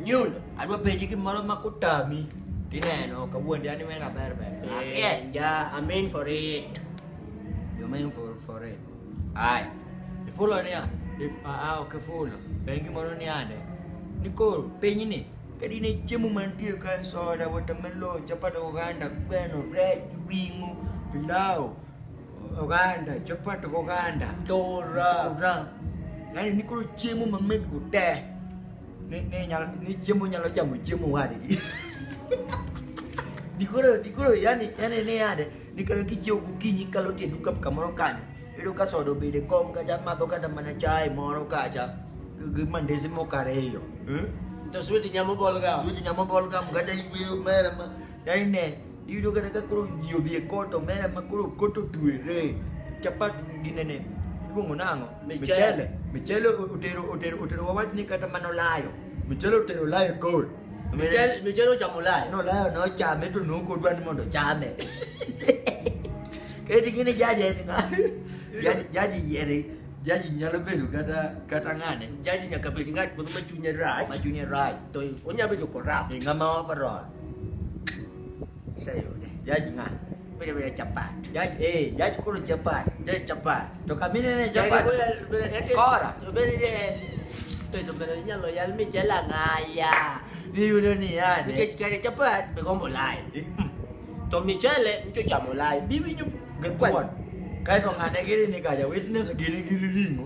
Nyul. Adwa penji gimoro ma kutami tineno kawuondi ani mena ber ber. Yeah, yeah, I'm in for it. You mean for for it. Ai. Ifulo niya. If a a ok ifulo. Pengi moro ni ande. Ni koro penyi ni kadi ne chiemo mantie ka soda, watermelon, chapat oganda, gweno, rech, ring'o, pilau, oganda, chapat oganda, Tora. ora. Yaani ni koro chiemo mamit go te. Ne ne nyalo ni chiemo nyalo chamo chiemo wadgi. Dikoro dikoro yani yani ne yade dikoro kichiew gokinyi kalo tie duka kamoro kanyo. Iyudo ka soda obede kom kacha madho kata mana chai moro kacha gi mandese moko ariyo. Eh? To switi nyamo bolga. Switi nyamo bolga mkacha ikweyo mera ma. Yani ne iyudo kata ka koro ji odhi e koto mera ma koro koto tuere. Chapat ginene iluongo nang'o? Michele. Michele utero utero utero wawach ni kata mano layo. Michele utero layo kol. Michele Michele ochamo layo. No layo no chame to nuko dwa ni mondo chame. Keti gini jaje ni nga. Jaji jaji yeri. Jaji nyalo bedo kata kata ngane. Jaji nyaka bed ngat moro ma chunye rach. Ma chunye rach. To onya bedo korap. Ngama overall. Sasa yule. Jaji nga. Bila bila chapati. Jaji eh, jaji kula chapati. Jaji chapati. Toka mimi nene chapati. Kora. Bila ile Pero pero niya loyal mi chela ngaya. Ni yule ni yani. Nike chikare chapati begombo lai. Eh, mm. To michele ncho chamo lai. Bibi nyo. Gekuan. Kaito ngane giri ni kaya witness giri giri ringo.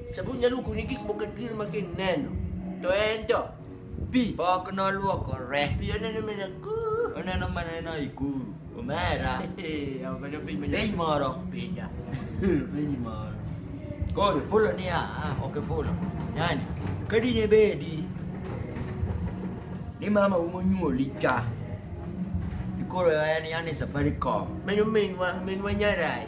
Sabon na luko ni gik moko dir ma kineno. To en to. Pi. Pok noluokore. Pi oneno mana ku. Oneno mana ena ikuru. Omera. Eh, obedo piny ma Piny moro. Pida. Piny moro. Koro ifulo niya, ah, ok ifulo. Yani, ka dine bedi ni mama u monyuoli ka, ikoro en yani Safaricom. Mano minwa, minwa nyarai.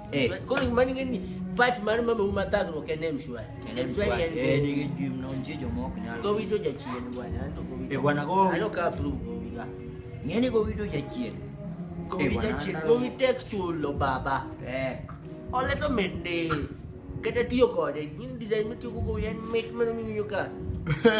Eh. Kwa nini mani ngani pat mani mama uma tatu wa kene mshwa. Kene mshwa. Eh, ni gidi mnaonje jo mwa kunyala. Kwa wito ja chie ni bwana. Anto kwa wito. Eh, bwana kwa wito. Ano ka approve kwa wito. Ngani kwa wito ja chie. Kwa eh, wito ja chie. Kwa wito textual lo baba. Eh. Ole to mende. Kete tiyo kode. Ni design mitiyo kukuyen mate mani mimi yoka.